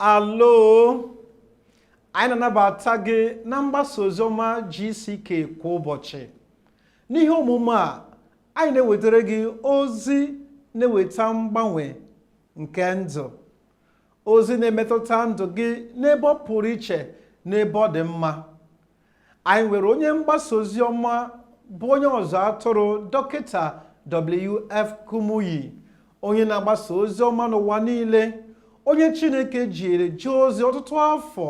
alo anyị na-anabata gị na mgbasa oziọma GCK kwa ụbọchị n'ihe omume a anyị na-ewetara gị ozi na-eweta mgbanwe nke ndụ ozi na-emetụta ndụ gị n'ebe ọ pụrụ iche n'ebe ọ dị mma anyị nwere onye mgbasa ozi ọma bụ onye ọzụ atụrụ dọkịta wf kumuyi onye na-agbasa ozi ọma n'ụwa niile onye chineke jiri jee ozi ọtụtụ afọ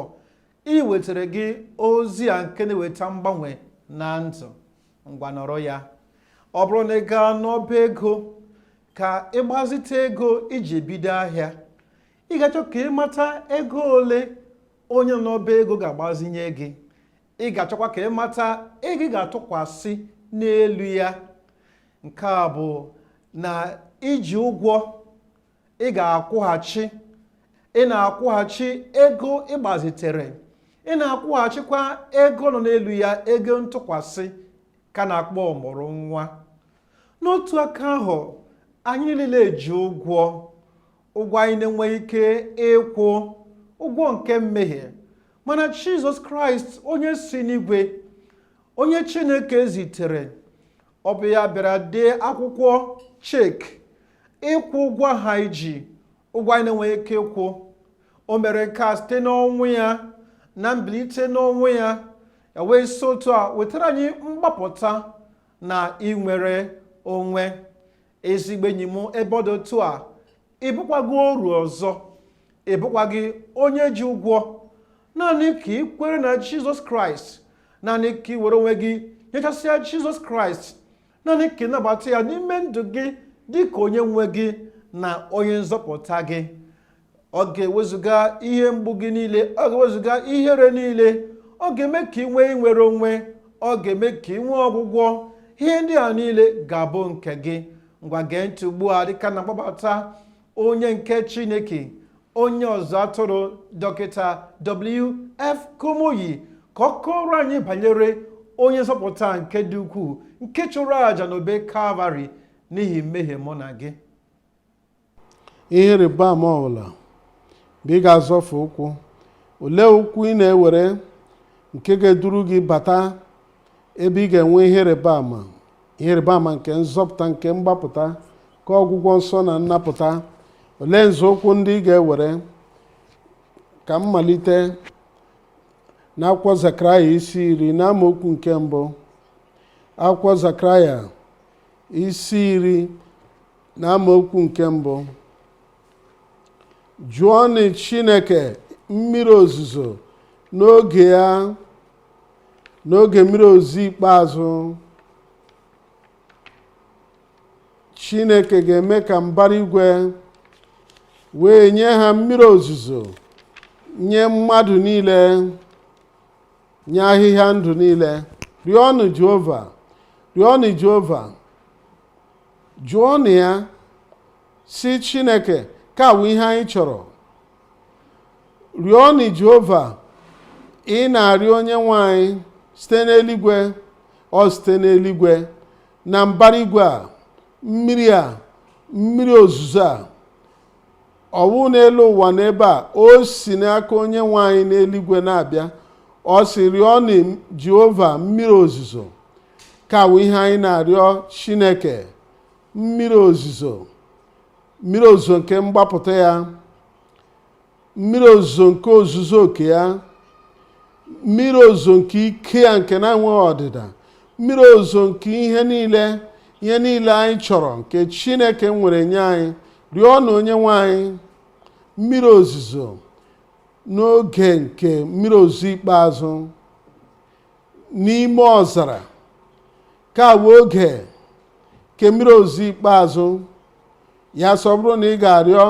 iwetara gị ozi a nke na-eweta mgbanwe na ndụ ngwa nụrụ ya ọ bụrụ na ị gaa n'ọba ego ka ị gbazite ego iji bido ahịa ị ga-achọ ka ị mata ego ole onye n'ọba ego ga-agbazinye gị ị ga-achọkwa ka ị mata ego ị ga-atụkwasị n'elu ya nke a bụ na i ji ụgwọ ị ga-akwụghachi ị na-akwụghachi ego ị gbazitere ị na-akwụghachikwa ego nọ n'elu ya ego ntụkwasị ka a na-akpọ ọmụrụ nwa n'otu aka ahụ anyị niile ji ụgwọ ụgwọ anyị na-enweghị ike ịkwụ ụgwọ nke mmehie mana jizọs kraịst onye si n'igwe onye chineke zitere ọ bụ ya bịara dee akwụkwọ chek ịkwụ ụgwọ anyị ji ụgwọ anyị na-enweghị ike ịkwụ o mere nke a site n'ọnwụ ya na mbilite n'ọnwụ ya ya wee si otu a wetara anyị mgbapụta na inwere onwe ezigbo enyi m ebe ọ dị otu a ị bụkwaghị oru ọzọ ị bụkwaghị onye ji ụgwọ naanị ka ị kwere na jizọs kraịst naanị ka ị were onwe gị nyechasịa jizọs kraịst naanị ka ị nabata ya n'ime ndụ gị dị ka onye nwe gị na onye nzọpụta gị ọ ga-ewezụga ihe mgbu gị niile ọ ga-ewezụga ihere niile ọ ga-eme ka ị nwee inwere onwe ọ ga-eme ka ị nwee ọgwụgwọ ihe ndị a niile ga-abụ nke gị ngwa gee ntị ugbu a dịka m na-akpọbata onye nke chineke onye ọzụ atụrụ dọkịta wf kumuyi ka ọ kọọrọ anyị banyere onye nzọpụta nke dị ukwuu nke chụrụ àjà n'obe kalvarị n'ihi mmehie mụ na gị ihe ịrịba ama ọbụla bụ ị ga-azọfụ ụkwụ olee ụkwụ ị na-ewere nke ga-eduru gị bata ebe ị ga-enwe ihe ịrịba ama ihe ịrịba ama nke nzọpụta nke mgbapụta nke ọgwụgwọ nsọ na nnapụta olee nzọụkwụ ndị ị ga-ewere ka m malite n'akwụkwọ zakaraya isi iri n'amaokwu nke mbụ akwụkwọ zakaraya isi iri na amaokwu nke mbụ jụọnụ chineke mmiri ozuzo n'oge ya n'oge mmiri ozuzo ikpeazụ chineke ga-eme ka mbara igwe wee nye ha mmiri ozuzo nye mmadụ niile nye ahịhịa ndụ niile rịọnụ jehova rịọnụ jehova jụọnụ ya sị chineke ka wụ ihe anyị chọrọ rịọnụ jehova ị na-arịọ onye nwe anyị site n'eluigwe ọ site n'eluigwe na mbara igwe a mmiri a mmiri ozuzo a ọ wụ n'elu ụwa n'ebe a o si n'aka onye nwe anyị n'eluigwe na-abịa ọ sị rịọnụ jehova mmiri ozuzo ka wụ ihe anyị na-arịọ chineke mmiri ozuzo mmiri ozuzo nke mgbapụta ya mmiri ozuzo nke ozuzu oke ya mmiri ozuzo nke ike ya nke na-enweghị ọdịda mmiri ozuzo nke ihe niile ihe niile anyị chọrọ nke chineke nwere nye anyị rịọnụ onye nwe anyị mmiri ozuzo n'oge nke mmiri ozuzo ikpeazụ n'ime ọzara ka bụ oge nke mmiri ozuzo ikpeazụ ya sị ọ bụrụ na ị ga-arịọ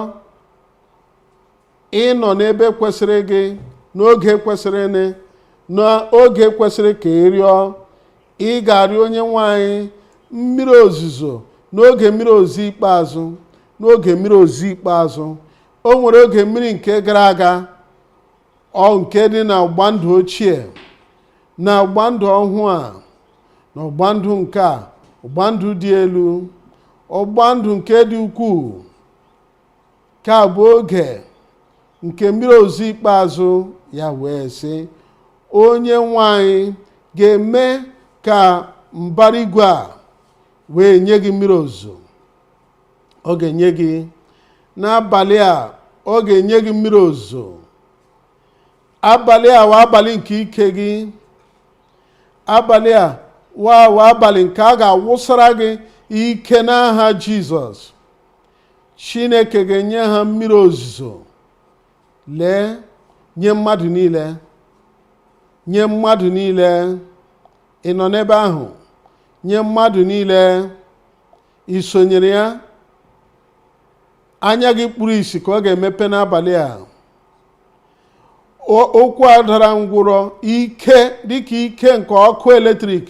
ị nọ n'ebe kwesịrị gị n'oge kwesịrị nị n'oge kwesịrị ka ị rịọ ị ga-arịọ onye nwe anyị mmiri ozuzo n'oge mmiri ozuzo ikpeazụ n'oge mmiri ozuzo ikpeazụ o nwere oge mmiri nke gara aga ọ nke dị na ọgba ndụ ochie na ọgba ndụ ọhụụ a na ọgba ndụ nke a ọgba ndụ dị elu ọgba ndụ nke dị ukwuu ka bụ oge nke mmiri ozuzo ikpeazụ ya wee sị onye nwe anyị ga-eme ka mbara igwe a wee nye gị mmiri ozuzo ọ ga-enye gị n'abalị a ọ ga-enye gị mmiri ozuzo abalị a wụ abalị nke ike gị abalị a wa wụ abalị nke a ga-awụsara gị ike n'aha jizọs chineke ga-enye ha mmiri ozuzo lee nye mmadụ niile nye mmadụ niile ị nọ n'ebe ahụ nye mmadụ niile i sonyere ya anya gị kpuru isi ka ọ ga-emepe n'abalị a ụkwụ a dara ngwụrọ ike dịka ike nke ọkụ eletrik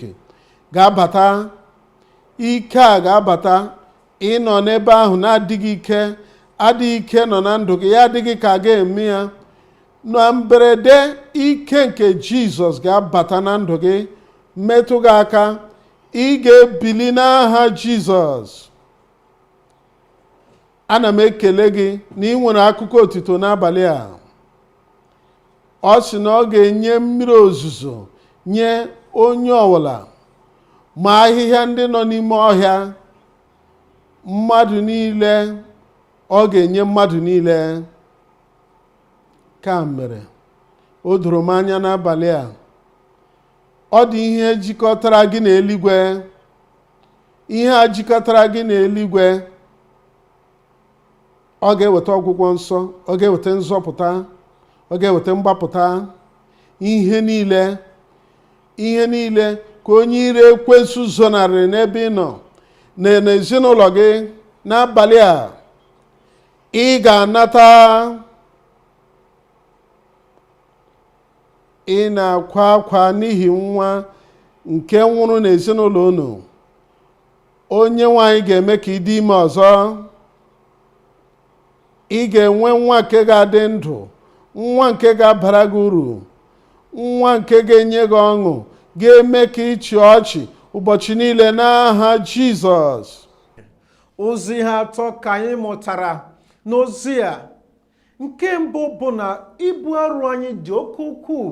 ga-abata ike a ga-abata ị nọ n'ebe ahụ n'adịghị ike adịghị ike nọ na ndụ gị ya adịghị ka a ga-eme ya na mberede ike nke jizọs ga-abata na ndụ gị metụ gị aka ị ga-ebili n'aha jizọs ana m ekele gị na i nwere akụkọ otito n'abalị a ọ sị na ọ ga-enye mmiri ozuzo nye onye ọwụla ma ahịhịa ndị nọ n'ime ọhịa mmadụ niile ọ ga-enye mmadụ niile nke a mere o doro m anya n'abalị a ọ dị ihe jikọtara gị na eluigwe ihe a jikọtara gị na eluigwe ọ ga-eweta ọgwụgwọ nsọ ọ ga-eweta nzọpụta ọ ga-eweta mgbapụta ihe niile ihe niile ka onye iro ekwensu zonarịrị n'ebe ị nọ na n'ezinụlọ gị n'abalị a ị ga-anata ị na-akwa akwa n'ihi nwa nke nwụrụ n'ezinụlọ unu onyenwe anyị ga-eme ka ị dị ime ọzọ ị ga-enwe nwa nke ga-adị ndụ nwa nke ga-abara gị uru nwa nke ga-enye gị ọṅụ ga-eme ka ị chịa ọchị ụbọchị niile n'aha jizọs ụzọ ihe atọ ka anyị mụtara n'ozi a nke mbụ bụ na ibu arụ anyị dị oke ukwuu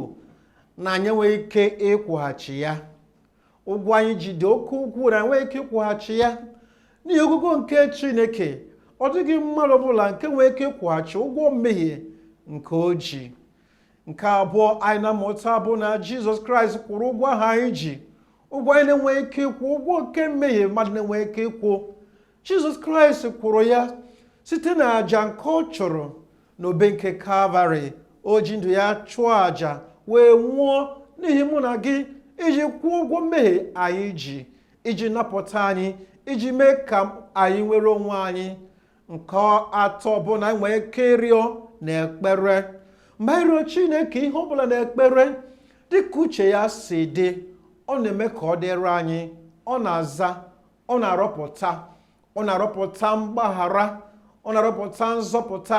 na anyị enweghị ike ịkwụghachi ya ụgwọ anyị ji dị oke ukwuu na anyị enweghị ike ịkwụghachi ya n'ihi ogogo nke chineke ọ dịghị mmadụ ọbụla nke nwere ike ịkwụghachi ụgwọ mmehie nke o ji nke abụọ anyị na-amụta bụ na jizọs kraịst kwụrụ ụgwọ ahụ anyị ji ụgwọ anyị na-enweghị ike ịkwụ ụgwọ nke mmehie mmadụ na-enweghị ike ịkwụ jizọs kraịst kwụrụ ya site na aja nke ọ chụrụ n'obe nke kalvarị o ji ndụ ya chụọ aja wee nwụọ n'ihi mụ na gị iji kwụọ ụgwọ mmehie anyị ji iji napụta anyị iji mee ka anyị nwere onwe anyị nke atọ bụ na anyị nwee ike ịrịọ na ekpere mgbe anyị rịọ chineke ihe ọbụla na ekpere dịka uche ya si dị ọ na-eme ka ọ dịrị anyị ọ na-aza ọ na-arọpụta ọ na-arọpụta mgbaghara ọ na-arọpụta nzọpụta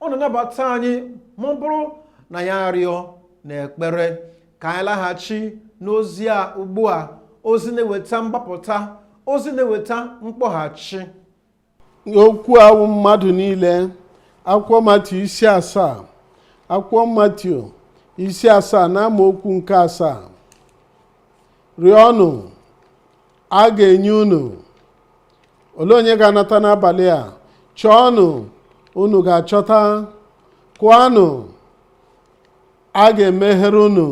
ọ na-anabata anyị ma ọ bụrụ na ya arịọ na ekpere ka anyị laghachi n'ozi a ugbu a ozi na-eweta mgbapụta ozi na-eweta mkpọghachi okwu a wụ mmadụ niile akwụkwọ Matiu isi asaa akwụkwọ Matiu isi asaa na amaokwu nke asaa rịọnụ a ga-enye unu olee onye ga-anata n'abalị a chọọnụ unu ga-achọta kụọnụ a ga-emeghere unu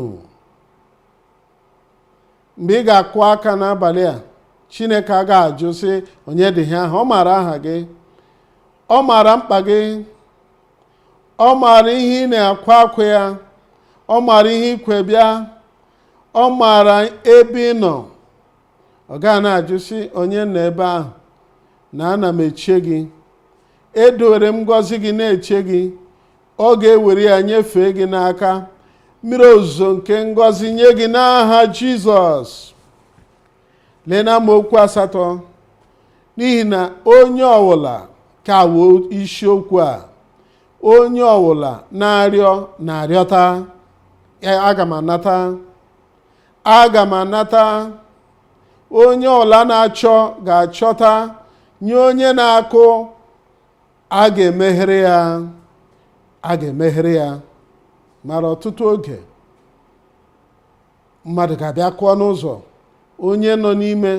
mgbe ị ga-akụ aka n'abalị a chineke aga-ajụ sị onye dị ihe ahụ ọ maara aha gị ọ maara mkpa gị ọ maara ihe ị na-akwa akwa ya ọ maara ihe i kwo bịa ọ maara ebe ị nọ ọ ga na-ajụ sị onye nọ ebe ahụ na ana m eche gị edowere m ngọzi gị na-eche gị ọ ga-ewere ya nyefee gị n'aka mmiri ozuzo nke ngọzi nye gị n'aha jizọs lee na amaokwu asatọ n'ihi na onye ọwụla ka wụ isiokwu a onye ọwụla na-arịọ na-arịọta aga m anata aga m anata onye ọwụla na-achọ ga-achọta nye onye na-akụ a ga-emeghere ya a ga-emeghere ya mara ọtụtụ oge mmadụ ga-abịa kụọ n'ụzọ onye nọ n'ime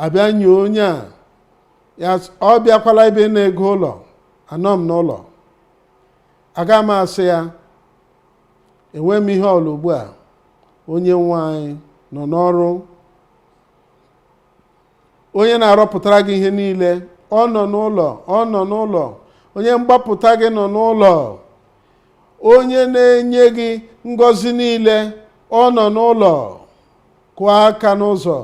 abịa nye onye a ya s- ọ bịakwala ebe ịna ego ụlọ anọ m n'ụlọ aga m asị ya enwe m ihe ọla ugbu a onye nwe anyị nọ n'ọrụ onye na-arọpụtara gị ihe niile ọ nọ n'ụlọ ọ nọ n'ụlọ onye mgbapụta gị nọ n'ụlọ onye na-enye gị ngọzi niile ọ nọ n'ụlọ kụọ aka n'ụzọ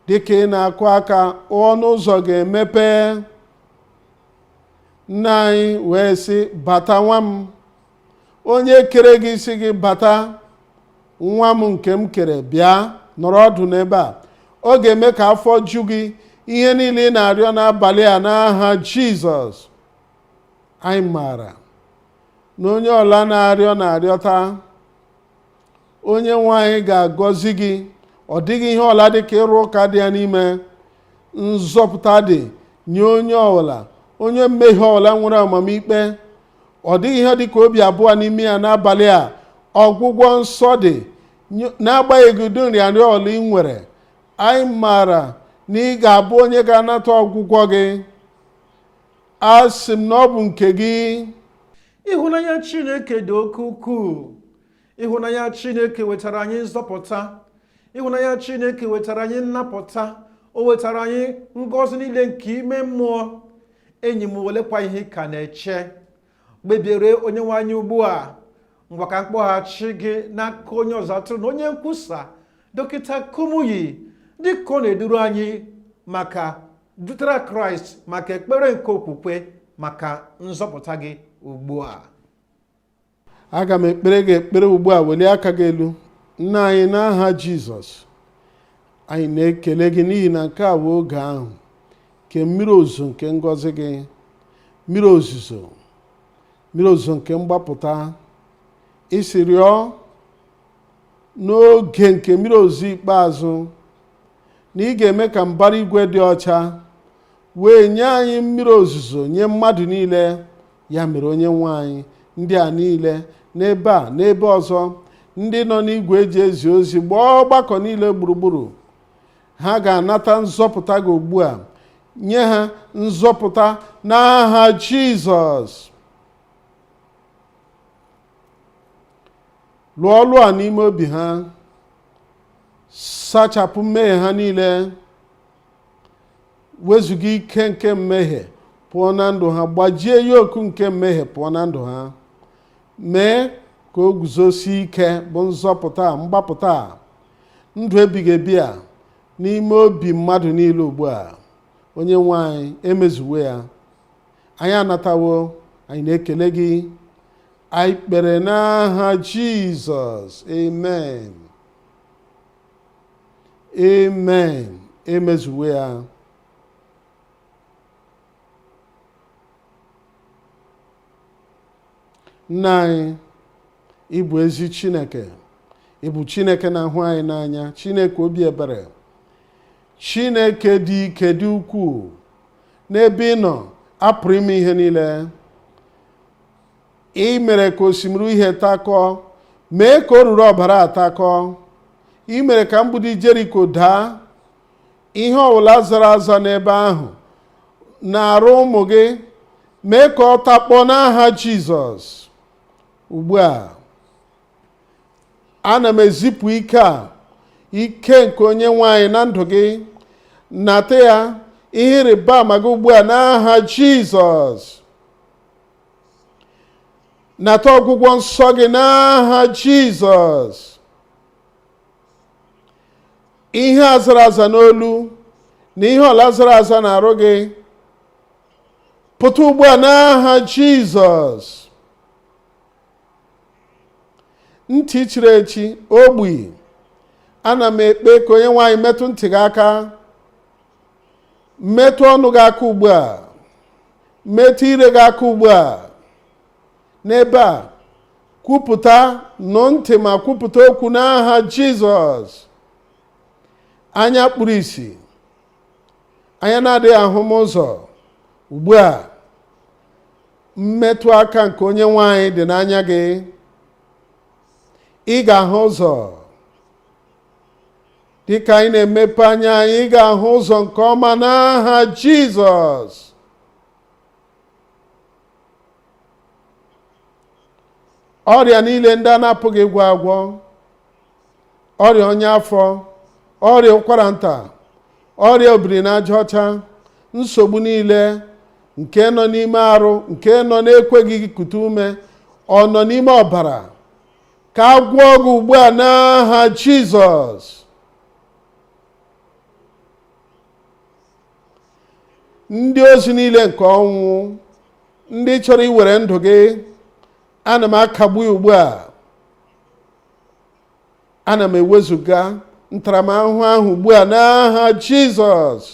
dịka ị na-akụ aka ọnụ ụzọ ga-emepe nna anyị wee sị bata nwa m onye kere gị sị gị bata nwa m nke m kere bịa nọrọ ọdụ n'ebe a ọ ga-eme ka afọ ju gị ihe niile ị na-arịọ n'abalị a n'aha jizọs anyị maara na onye ọla na-arịọ na-arịọta onye nwe anyị ga-agọzi gị ọ dịghị ihe ọla dị ka ịrụ ụka dị ya n'ime nzọpụta dị nye onye ọwụla onye mmehie ọwụla nwere amamikpe ọ dịghị ihe dị ka obi abụọ n'ime ya n'abalị a ọgwụgwọ nsọ dị n'agbanyeghị ụdị nrịanrịa ọbụla ị nwere anyị maara na ị ga-abụ onye ga-anata ọgwụgwọ gị asị m na ọ bụ nke gị Ịhụnanya Chineke dị oke ukwuu. ịhụnanya chineke wetara anyị nzọpụta ịhụnanya chineke wetara anyị nnapụta o wetara anyị ngọzi niile nke ime mmụọ enyi m olekwa ihe ị ka na-eche kpebiere onye nwe anyị ugbu a ngwa ka m kpọghachi gị n'aka onye ọzụzụ atụrụ na onye nkwusa dọkịta kumuyi dịka ọ na-eduru anyị maka dutere kraịst maka ekpere nke okwukwe maka nzọpụta gị ugbu a aga m ekpere gị ekpere ugbu a welie aka gị elu nna anyị n'aha jizọs anyị na-ekele gị n'ihi na nke a bụ oge ahụ nke mmiri ozuzo nke ngọzi gị mmiri ozuzo mmiri ozuzo nke mgbapụta ị sị rịọ n'oge nke mmiri ozuzo ikpeazụ na ị ga-eme ka mbara igwe dị ọcha wee nye anyị mmiri ozuzo nye mmadụ niile ya mere onye nwe anyị ndị a niile n'ebe a n'ebe ọzọ ndị nọ n'igwe eji ezi ozi gbaa ọgbakọ niile gburugburu ha ga-anata nzọpụta gị ugbu a nye ha nzọpụta n'aha jizọs lụọ ọlụ a n'ime obi ha sachapụ mmehie ha niile wezuga ike nke mmehie pụọ na ndụ ha gbajie yoku nke mmehie pụọ na ndụ ha mee ka o guzosie ike bụ nzọpụta a, mgbapụta a, ndụ ebighị ebi a n'ime obi mmadụ niile ugbu a onye nwe anyị emezuwo ya anyị anatawo anyị na-ekele gị anyị kpere n'aha jizọs amen amen emezuwo ya nna anyị ị bụ ezi chineke ị bụ chineke na-ahụ anyị n'anya chineke obi ebere chineke dị ike dị ukwuu n'ebe ị nọ a pụrụ ime ihe niile i mere ka osimiri uhie takọọ mee ka oruru ọbara takọọ i mere ka mgbidi jeriko daa ihe ọbụla zara aza n'ebe ahụ n'arụ ụmụ gị mee ka ọ takpọọ n'aha jizọs ugbu a ana m ezipụ ike a ike nke onye nwe anyị na ndụ gị nata ya ihe ịrịba ama gị ugbu a n'aha jizọs nata ọgwụgwọ nsọ gị n'aha jizọs ihe a zara aza n'olu na ihe ọwụla zara aza n'arụ gị pụta ugbu a n'aha jizọs ntị chiri echi ogbi ana m ekpe ka onye nwe anyị metụ ntị gị aka metụ ọnụ gị aka ugbu a metụ ire gị aka ugbu a n'ebe a kwupụta nụ ntị ma kwupụta okwu n'aha jizọs anya kpuru isi anya na-adịghị ahụma ụzọ ugbu a mmetụ aka nke onye nwe anyị dị n'anya gị ị ga-ahụ ụzọ dịka anyị na-emepe anya anyị ga-ahụ ụzọ nke ọma n'aha Jizọs ọrịa niile ndị a na-apụghị ịgwọ agwọ ọrịa ọnya afọ ọrịa ụkwara nta ọrịa obiri n'aja ọcha nsogbu niile nke nọ n'ime arụ nke nọ n'ekweghị kute ume ọ nọ n'ime ọbara ka a gwọọ gị ugbu a n'aha jizọs ndị ozi niile nke ọnwụ ndị chọrọ iwere ndụ gị ana m akagbu ya ugbu a ana m ewezuga ntaramahụhụ ahụ ugbu a n'aha jizọs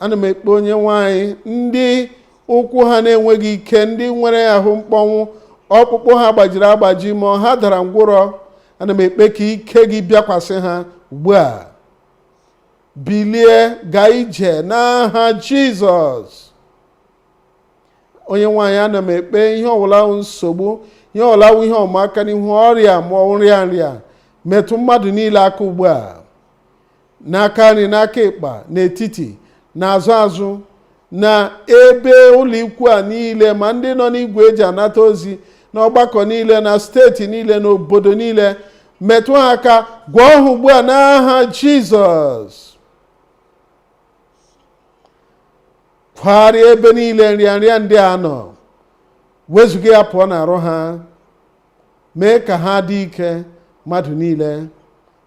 ana m ekpe onye nwe anyị ndị ụkwụ ha na-enweghị ike ndị nwere ahụ mkpọnwụ ọkpụkpụ ha gbajiri agbaji ma ha dara ngwụrọ ana m ekpe ka ike gị bịakwasị ha ugbu a bilie gaa ije n'aha jizọs onye nwe anyị ana m ekpe ihe ọwụla wụ nsogbu ihe ọwụla wụ ihe ịma aka n'ihu ọrịa ma ọ wụ nrịanrịa metụ mmadụ niile aka ugbu a n'aka nri n'aka ịkpa n'etiti n'azụ azụ na ebe ụlọikwu a niile ma ndị nọ n'igwe eji anata ozi n'ọgbakọ niile na steeti niile na obodo niile metụ ha aka gwọọ ha ugbu a n'aha jizọs kwagharịa ebe niile nrịanrịa ndị a nọ wezuga ya pụọ n'arụ ha mee ka ha dị ike mmadụ niile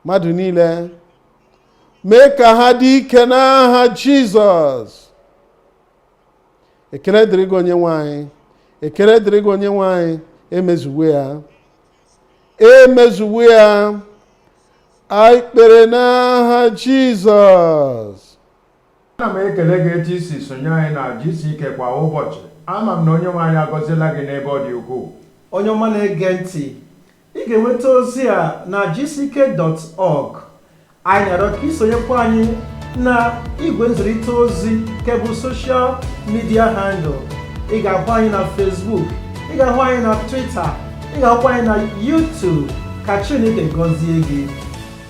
mmadụ niile mee ka ha dị ike n'aha jizọs ekele dịrị gị onye nwe anyị ekele dịrị gị onye nwe anyị emezuwo ya emezuwo ya anyị kpere n'aha jizọs Ana m ekele gị etu i si sonye anyị na GCK kwa ụbọchị. Ama m na Onyenwe anyị agọziela gị n'ebe ọ dị ukwuu. Onye ọma na-ege ntị, ị ga-enweta ozi a na gck.org. Anyị na-arịọ ka i sonyekwa anyị na igwe nzirịta ozi nke bụ social media handle. Ị ga-ahụ anyị na Facebook, ị ga-ahụ anyị na Twitter, ị ga-ahụkwa anyị na YouTube. Ka Chineke gọzie gị.